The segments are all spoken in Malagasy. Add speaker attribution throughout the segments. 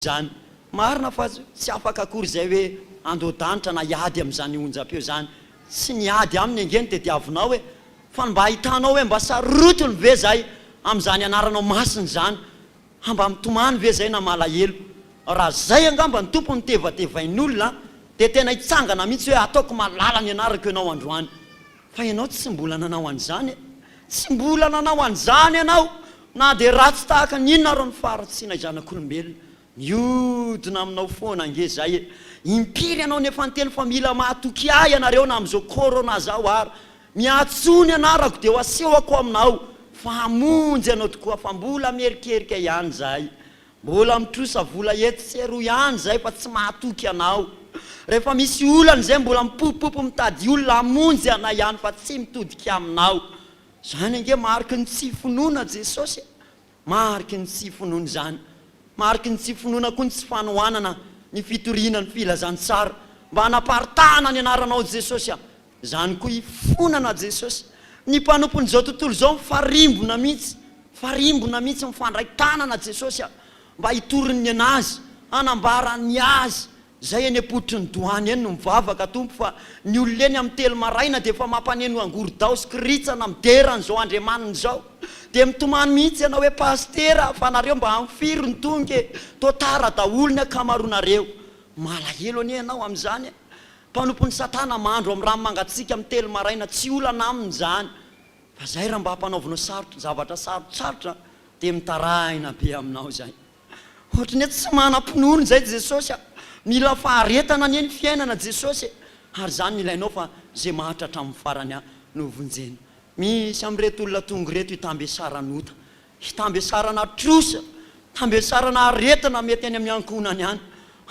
Speaker 1: izany. Marina fa tsy afaka akory izay hoe andoha-danitra na hiady amin'izany onjam-peo izany. Tsy miady aminy ange no tediavinao e! Fa ny mba ahitanao hoe mba sarotiny ve izay amin'izany anaranao masina izany? Ha mba mitomany ve izay na malahelo? Raha izay angamba ny Tompo no tevatevain'olona dia tena hitsangana mihitsy hoe ataoko malala ny anarako ianao androany. Fa ianao tsy mbola nanao an'izany e! Tsy mbola nanao an'izany ianao na dia ratsy tahaka ny inona ary ny faharatsianay zanak'olombelona miodina aminao foana ange izay e! Impiry ianao no efa niteny fa mila mahatoky ahy ianareo na amin'izao corona zao ary miantsoa ny anarako dia ho asehoko aminao fa hamonjy anao tokoa fa mbola mierikerika ihany izahay Mbola mitrosa vola etsy sy eroa ihany izay fa tsy mahatoky anao. Rehefa misy olana izay mbola mipopopopy mitady olona hamonjy anay ihany fa tsy mitodika aminao. Izany ange mariky ny tsy finoana Jesosy e! Mariky ny tsy finoana izany. Mariky ny tsy finoana koa ny tsy fanohanana ny fitoriana ny filazantsara. Mba hanaparitahana ny anaranao Jesosy a! Izany koa ifonana Jesosy. Ny mpanompon'izao tontolo izao mifarimbona mihitsy, mifarimbona mihitsy, mifandray tanana Jesosy a, mba hitory ny an'azy, hanambara ny azy, izay eny am-pototry ny doany eny no mivavaka Tompo fa ny olona eny amin'ny telo maraina dia efa mampaneno angorondao sy kiritsana midera an'izao Andriamaniny izao dia mitomany mihitsy ianao hoe Pasitera fa nareo mba amin'ny firy no tonga e, toa tara daholo ny akamaroanareo, malahelo anie ianao amin'izany e. Mpanompon'i satana mandro amin'ny rano mangatsiaka amin'ny telo maraina tsy olana aminy izany fa izay raha mba hampanaovinao sarotra zavatra sarotsarotra dia mitarahina be aminao izay ohatry ny hoe tsy manam-pinoana izay jesosy a! mila faharetana anie ny fiainana jesosy e! ary izany no ilainao fa izay maharitra hatramin'ny farany a! no vonjena misy amin'ireto olona tonga ireto hitambesaran'ota Hitambesarana trosa, tambesarana aretina mety any amin'ny ankohonany any.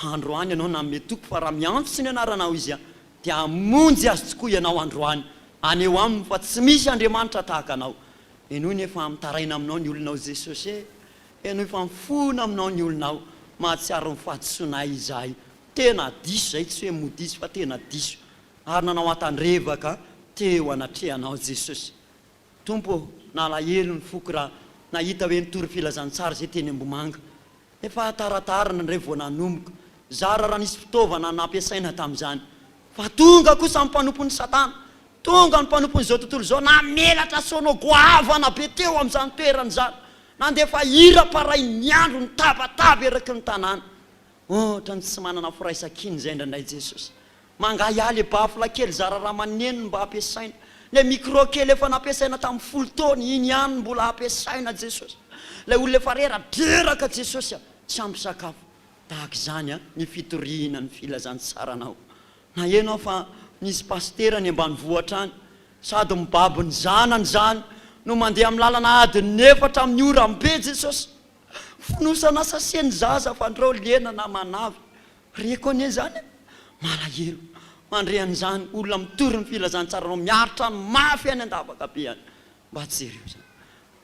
Speaker 1: Androany ianao nanome toky fa raha miantso ny anaranao izy dia hamonjy azy tokoa ianao androany. Aneho aminy fa tsy misy Andriamanitra tahaka anao. Henoy anie fa mitaraina aminao ny olonao Jesosy e! Henoy fa mifona aminao ny olonao. Mahatsiaro ny fahadisoanay izahay. Tena diso izay, tsy hoe mody izy fa tena diso. Ary nanao an-tandrevaka teo anatrehanao Jesosy. Tompo ô, nalahelo ny foko raha nahita hoe nitory filazantsara izay teny Ambohimanga. Efa hataratarana indray vao nanomboka, zara raha nisy fitaovana nampiasaina tamin'izany. Fa tonga kosa ny mpanompon'i Satana, tonga ny mpanompon'izao tontolo izao namelatra sono goavana be teo amin'izany toerana izany, nandefa hira parain'ny andro nitabataba eraky ny tanàna. Otrany tsy manana firaisankina izay indraindray Jesosy. Mangahiahy le baffle kely zara raha maneno no mba ampiasaina. Le micro kely efa nampiasaina tamin'ny folo taona iny ihany no mbola ampiasaina Jesosy. Ilay olona efa rera dreraka Jesosy a! Tsy ampy sakafo. Tahaka izany a! ny fitoriana ny filazantsaranao. Naheno aho fa nisy pasitera any ambanivohitra any sady mibaby ny zanany izany no mandeha amin'ny lalana adin'ny efatra amin'ny oram-be Jesosy. Fonosana sachet ny zaza fandrao lena na manavy. Reko anie izany a! Malahelo mandre an'izany olona mitory ny filazantsaranao miaritra ny mafy any an-davaka be any. Mba tsy jereo izany.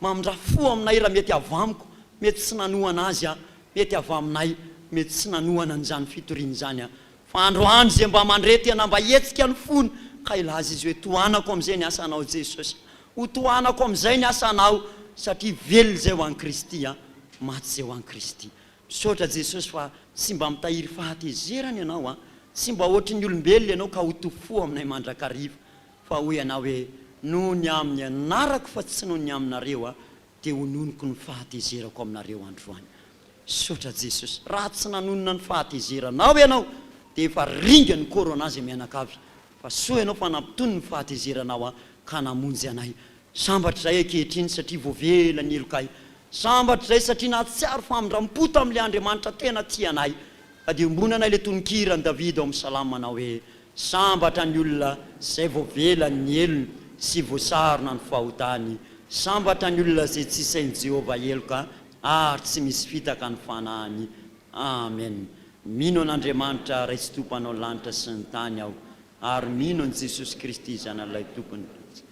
Speaker 1: Mamindrà fo aminay raha mety avy amiko, mety tsy nanohana azy aho, mety avy aminay, mety tsy nanohana an'izany fitoriana izany aho. Fa androany ze mba mandre tena mba hetsika ny fony ka hilaza izy hoe tohanako amizay ny asanao Jesosy o tohanako amizay ny asanao satria velona zay ho any Kristy a maty zay ho any Kristy misaotra Jesosy fa tsy mba mitahiry fahatezerana ianao a tsy mba ohatry ny olombelona ianao ka ho tofoa aminay mandrakariva fa hoy ianao hoe noho ny aminy anarako fa tsy noho ny aminareo a dia ononiko ny fahatezerako aminareo androany Misaotra Jesosy. Raha tsy nanonona ny fahatezeranao ianao dia efa ringa ny corona zay mianakavy. Fa soa ianao fa nampitony ny fahatezeranao ahy ka namonjy anay. Sambatra izahay ankehitriny satria voavela ny helokay. Sambatra izahay satria nahatsiaro famindrampo tamin'ilay Andriamanitra tena tia anay. Ka dia ombona anay ilay tononkiran'i Davida ao amin'ny Salamo manao hoe, Sambatra ny olona izay voavela ny helony sy voasarona ny fahotany. Sambatra ny olona izay tsy sain'i Jehovah heloka ary tsy misy fitaka ny fanahiny Amen Mino an'Andriamanitra Ray Tsitoha Mpanao lanitra sy ny tany aho ary mino an'i Jesosy Kristy Zanalay Tompony Mpanj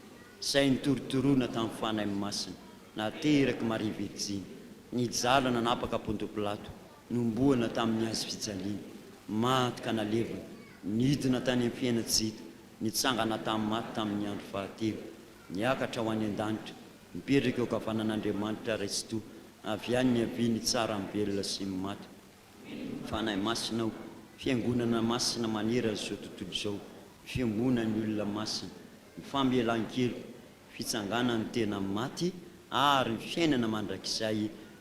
Speaker 1: Izay nitorotoroina tamin'ny Fanahy Masina naterak'i Maria Virjiny nijaly nanapaka Ponto Pilato nombohana tamin'ny hazo fijaliana maty ka nalevina nidina tany amin'ny fiaina tsy hita nitsangana tamin'ny maty tamin'ny andro fahatelo niakatra ho any an-danitra Mipetraka eo ankavanan'Andriamanitra Raisotoa, avy any niaviany tsara amin'ny velona sy ny maty. Fanahy Masina ao, Fiangonana Masina manerana izao tontolo izao, ny Fiangonan'ny olona masina, ny famelan-keloka, ny fitsanganan'ny tena amin'ny maty ary ny fiainana mandrakizay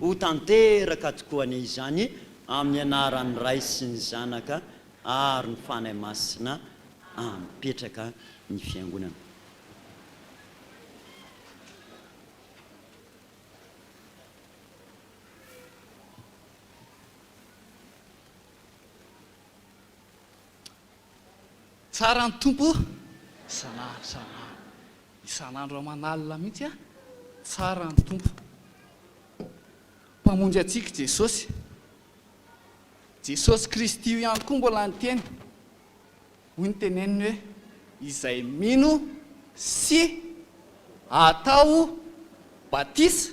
Speaker 1: Ho tanteraka tokoa anie izany amin'ny anaran'ny Ray sy ny Zanaka ary ny Fanahy Masina ampetraka ny Fiangonana.
Speaker 2: Tsara ny Tompo oh! isan'andro isan'andro, isan'andro aman'alina mihitsy an! tsara ny Tompo. Mpamonjy antsika i Jesosy. Jesosy Kristy io ihany koa mbola niteny, hoy ny teneniny hoe, izay mino sy atao batisa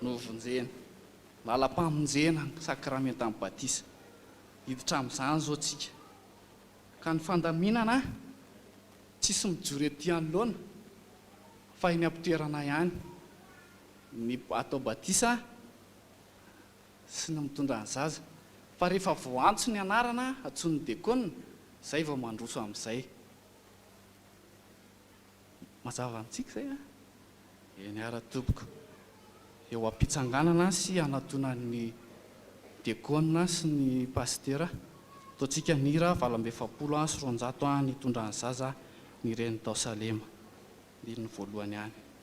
Speaker 2: no vonjena. Làlam-pamonjena ny sakramentan'ny batisa. Hiditra amin'izany izao tsika. Ka ny fandaminana tsisy mijoro ety anoloana fa eny am-pitoerana ihany. Ny atao batisa sy ny mitondra ny zaza. Fa rehefa voantso ny anarana, antsoin'ny dekona, izay vao mandroso amin'izay. Mazava amintsika izay an! Eny ara tompoko, eo ampitsanganana sy hanatonan'ny dekôna sy ny pasitera, ataontsika ny hira valo amby efapolo sy roanjato an, nitondran'ny zaza ny reny tao Salema, andininy voalohany any.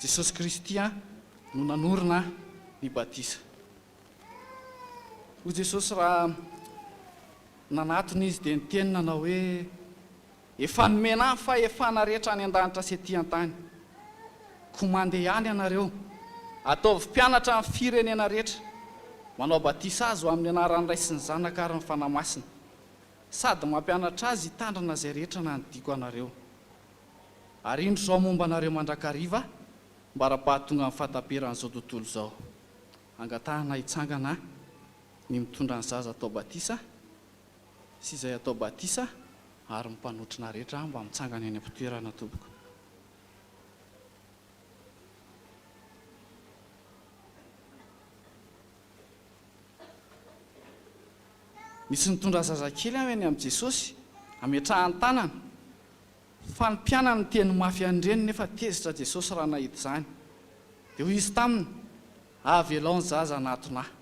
Speaker 2: Jesosy Kristy no nanorina ny batisa. Hoy Jesosy raha nanatona Izy dia niteny nanao hoe, Efa nomena ahy fahefana rehetra any an-danitra sy ety an-tany. Koa mandeha ihany ianareo, ataovy mpianatra amin'ny firenena rehetra, manao batisa azy ho amin'ny anaran'ny Ray sy ny Zanaka ary ny Fanahy Masina. Sady mampianatra azy hitandrina izay rehetra nandidiako anareo. Ary indro izao momba anareo mandrakariva ambara-pahatonga ny fahataperan'izao tontolo izao. Angatahana hitsangana ny mitondra ny zaza atao batisa sy izay atao batisa ary ny mpanotrona rehetra mba mitsangana eny am-pitoerana tompoko. Misy nitondra zazakely aho eny amin'i Jesosy, ametrahany tanana. Fa ny mpianany niteny mafy an'ireny nefa tezitra Jesosy raha nahita izany. Dia hoy Izy taminy, Avelao ny zaza hanatona Ahy.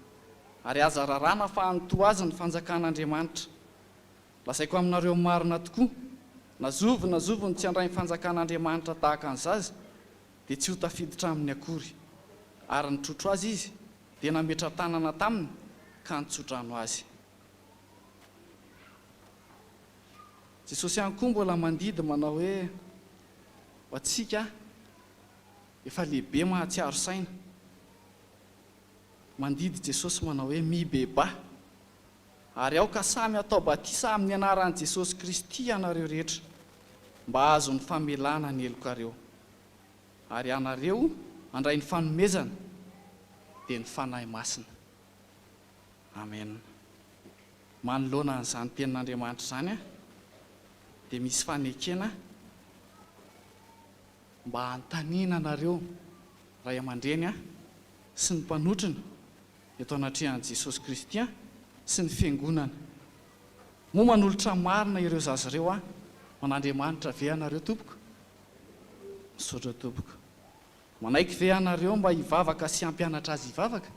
Speaker 2: Ary aza raràna fa hanintoa azy ny fanjakan'Andriamanitra. Lazaiko aminareo marina tokoa, na zovy na zovy no tsy handray ny fanjakan'Andriamanitra tahaka ny zaza, dia tsy ho tafiditra aminy akory, ary nitrotro azy izy, dia nametra-tanana taminy ka nitso-drano azy. Jesosy ihany koa mbola mandidy manao hoe, Ho antsika efa lehibe mahatsiaro saina, mandidy Jesosy manao hoe, Mibebaha, Ary aoka samy hatao batisa amin'ny anaran'i Jesosy Kristy ianareo rehetra, mba hahazo ny famelana ny helokareo. Ary ianareo handray ny fanomezana, dia ny Fanahy Masina. Amena. Manoloana an'izany Tenin'Andriamanitra izany, dia misy fanekena mba hanontaniana anareo ray aman-dreny sy ny mpanotrona, eto anatrehan'i Jesosy Kristy Aho sy ny Fiangonana. Moa manolotra marina ireo zaza ireo Aho ho an'Andriamanitra ve ianareo, tompoko? Misaotra, tompoko. Manaiky ve ianareo mba hivavaka sy hampianatra azy hivavaka?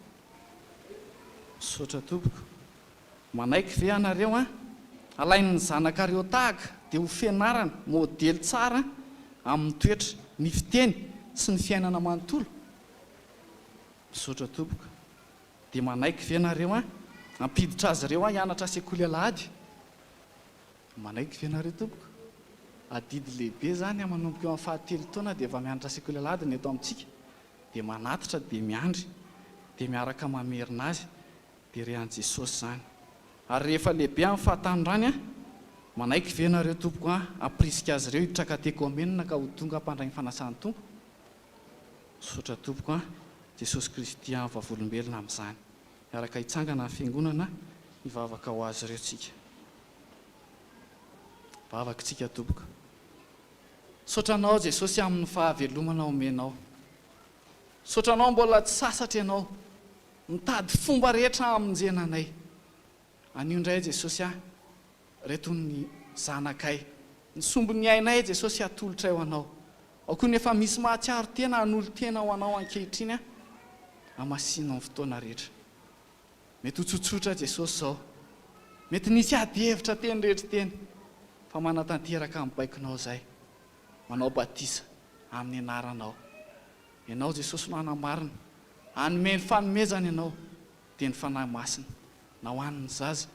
Speaker 2: Misaotra, tompoko. Manaiky ve ianareo an? Alain'ny zanakareo tahaka dia ho fianarana, modely tsara amin'ny toetra, ny fiteny, sy ny fiainana manontolo? Misaotra tompoko. Dia manaiky ve nareo an hampiditra azy ireo hianatra sekoly alahady? Manaiky ve nareo tompoko? Adidy lehibe izany an, manomboka eo amin'ny fahatelo taona dia efa mianatra sekoly alahady ny eto amintsika. Dia manatitra dia miandry. Dia miaraka mamerina azy. Dia re an'i Jesosy izany. Ary rehefa lehibe amin'ny fahatanorany an, manaiky ve nareo tompoko an hampirisika azy ireo hitraka an-tekoamenina ka ho tonga mpandray ny fanasan'ny Tompo? Misaotra tompoko an! Jesosy Kristy an vavolombelona amin'izany! Miaraka hitsangana ny fiangonana hivavaka ho azy ireo tsika. Vavaka tsika tompoko. Misaotra anao Jesosy amin'ny fahavelomana omenao. Misaotra anao mbola tsy sasatra ianao mitady fomba rehetra hamonjena anay. Anio indray Jesosy an! Reto ny zanakay. Ny sombin'ny ainay, Jesosy, atolotray ho Anao. Ao koa ny efa misy mahatsiaro tena hanolo-tena ho Anao ankehitriny aho. Hamasino amin'ny fotoana rehetra. Mety ho tsotsotra, Jesosy, izao. Mety nisy ady hevitra teny rehetra teny. Fa manatanteraka ny baikonao izay. Manao batisa amin'ny Anaranao. Ianao, Jesosy, no hanamarina. Hanome ny fanomezana Ianao, dia ny Fanahy Masina. na ho an' ny zaza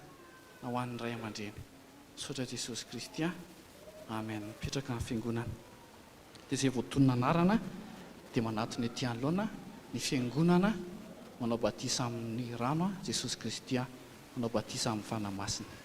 Speaker 2: na ho an' ny ray aman-dreny. Misaotra Jesosy Kristy a! Amen! Mipetraka ny Fiangonana. Dia izay voatonona anarana dia manatona ety anoloana ny Fiangonana manao batisa amin' ny rano a! Jesosy Kristy a! Manao batisa amin' ny Fanahy Masina.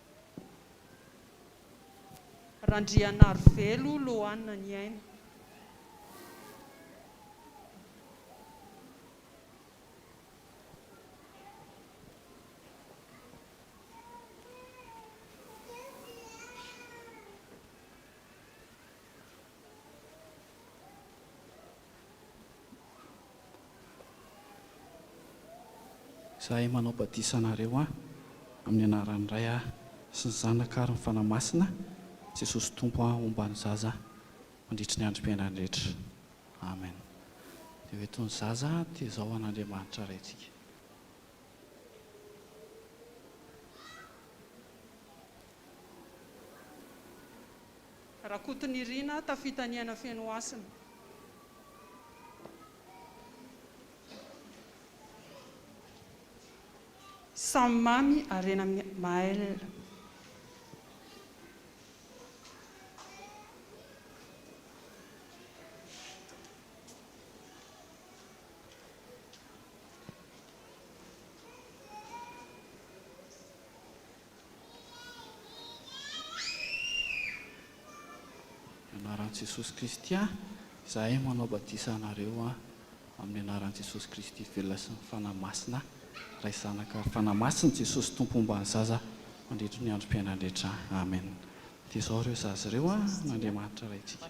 Speaker 3: Randrianarivelo Loanna Niaina.
Speaker 2: Izahay manao batisa anareo an, amin'ny anaran'ny Ray a, sy ny Zanaka ary ny Fanahy Masina, Jesosy Tompo an, homba ny zaza mandritry ny androm-piainany rehetra. Amen. Dia ho eto ny zaza, dia izao ho an'Andriamanitra Raintsika.
Speaker 3: Rakotonirina, tafita ny aina feno hasina. Samy mamy harena amin'ny mail.
Speaker 2: Anaran'i Jesosy Kristy aho, izahay manao batisa anareo an, amin'ny anaran'i Jesosy Kristy velona sy ny Fanahy Masina, Ray Zanaka ary Fanahy Masina, Jesosy Tompo homba ny zaza mandritry ny androm-piainany rehetra, Amen. Dia izao ireo zaza ireo an, n'Andriamanitra Raintsika.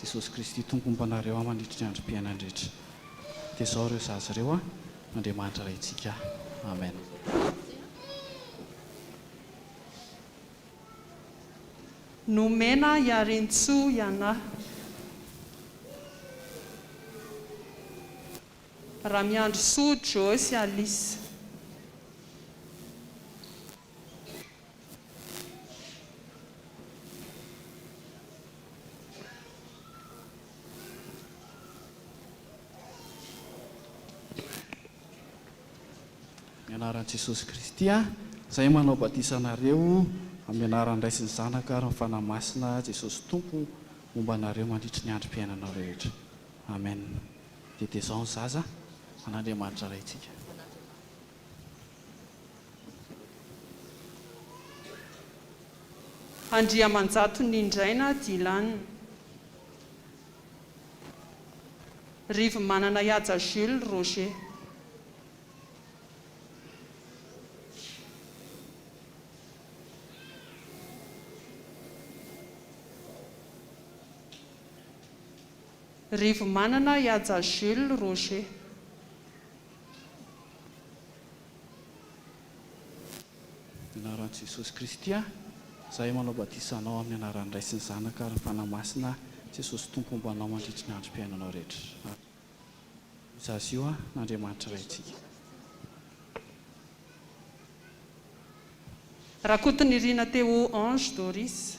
Speaker 2: Jesosy Kristy Tompo homba anareo aho mandritry ny androm-piainany rehetra. Dia izao ireo zaza ireo a, Andriamanitra Raintsika. Amen.
Speaker 3: Nomena Iarintsoa ianah. Ramiandrisoa Joe sy Alice.
Speaker 2: Amin'ny anaran'i Jesosy Kristy aho izay manao batisa anareo amin'ny anaran'ny Ray sy ny Zanaka ary ny Fanahy Masina, Jesosy Tompo momba anareo mandritry ny androm-piainanao rehetra. Amen. Dia dia izao ny zaza an'Andriamanitra Raintsika.
Speaker 3: Andriamanjato Nindraina Dylan. Rivomanana Ihaja Jules Roger. Rivomanana Ihaja Jules Roger.
Speaker 2: Anaran'i Jesosy Kristy aho izay manao batisa anao amin'ny anaran'ny Ray sy ny Zanaka ary ny Fanahy Masina Jesosy Tompo homba anao mandritry ny androm-piainanao rehetra Amen Mizazio an Andriamanitra Raintsika.
Speaker 3: Rakotonirina Théo Ange Doris.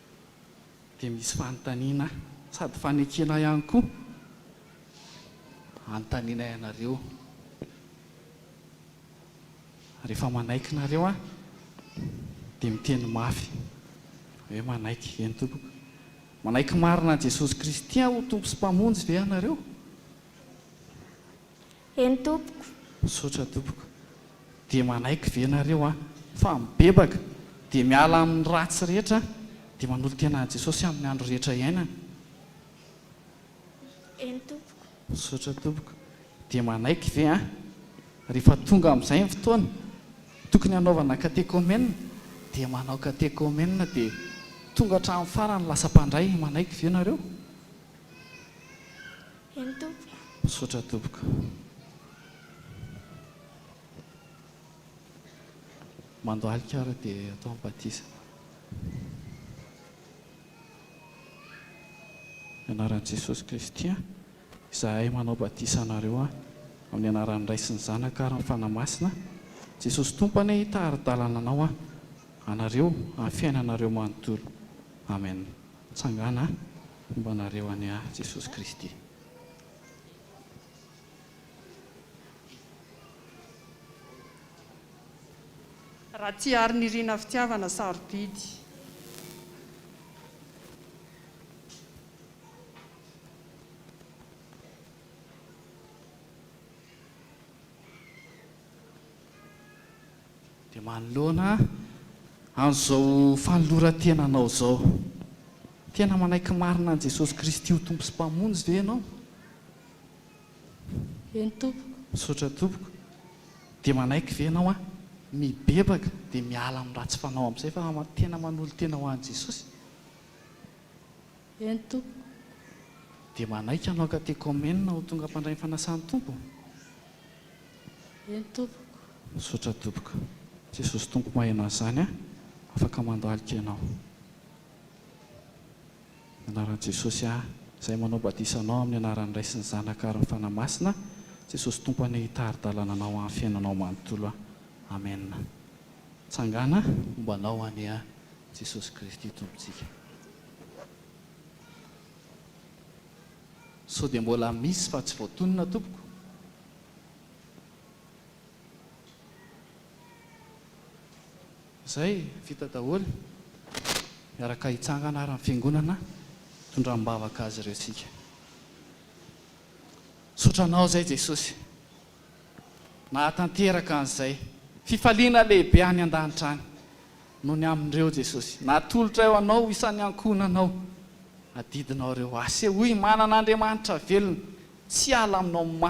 Speaker 2: dia misy fanontaniana sady fanekena ihany koa anontanianay anareo rehefa manaiky nareo aho dia miteny mafy hoe manaiky ve ny tompoko manaiky marina an'i Jesosy Kristy ho tompo sy mpamonjy ve ianareo?
Speaker 4: Eny tompoko. Misaotra tompoko.
Speaker 2: Dia manaiky ve ianareo an, fa mibebaka, dia miala amin'ny ratsy rehetra, dia manolo-tena an'i Jesosy amin'ny andro rehetra iainana? Eny
Speaker 4: tompoko. Misaotra tompoko.
Speaker 2: Dia manaiky ve an, rehefa tonga amin'izay ny fotoana, tokony hanaovana katekomenina, dia manao katekomenina, dia tonga hatramin'ny farany lasa mpandray, manaiky ve ianareo?
Speaker 4: Eny tompoko. Misaotra tompoko.
Speaker 2: Mandohalika ary dia atao ny batisa. Ny anaran'i Jesosy Kristy izahay manao batisa anareo amin'ny anaran'ny Ray sy ny Zanaka ary ny Fanahy Masina. Jesosy Tompo anie hitari-dalana anao anareo amin'ny fiainanareo manontolo. Amen. Tsangana homba anareo any ahy Jesosy Kristy.
Speaker 3: Ratiarinirina fitiavana sarobidy.
Speaker 2: Dia manoloana an'izao fanoloran-tena anao izao, tena manaiky marina an'i Jesosy Kristy ho Tompo sy Mpamonjy ve ianao?
Speaker 4: Eny tompoko. Misaotra tompoko.
Speaker 2: Dia manaiky ve ianao an, mibebaka dia miala amin'ny ratsy fanao amin'izay fa tena manolo-tena ho an'i Jesosy?
Speaker 4: Eny Tompo. Dia
Speaker 2: manaiky hanao katekomenina ho tonga mpandray ny fanasan'ny Tompo? Eny
Speaker 4: Tompoko.
Speaker 2: Misaotra Tompoko. Jesosy
Speaker 4: Tompo
Speaker 2: maheno an'izany a! Afaka mandohalika ianao. Ny anaran'i Jesosy a! Izay manao batisa anao amin'ny anaran'ny Ray sy ny Zanaka ary ny Fanahy Masina, Jesosy Tompo anie hitari-dalana anao amin'ny fiainanao manontolo a! Amen. Tsangana momba anao anie a! Jesosy Kristy Tompontsika. Sao dia mbola misy fa tsy voatonona tompoko? Zay, vita daholo. Miaraka hitsangana ary ny fiangonana tondram-bavaka azy ireo isika. Misaotra Anao izay Jesosy nahatanteraka an'izay fifaliana lehibe any an-danitra any. no ny amin'ireo Jesosy natolotra eo anao ho isan'ny ankohonanao adidinao ireo. Asehoy manana Andriamanitra velona tsy hiala aminao mantsy.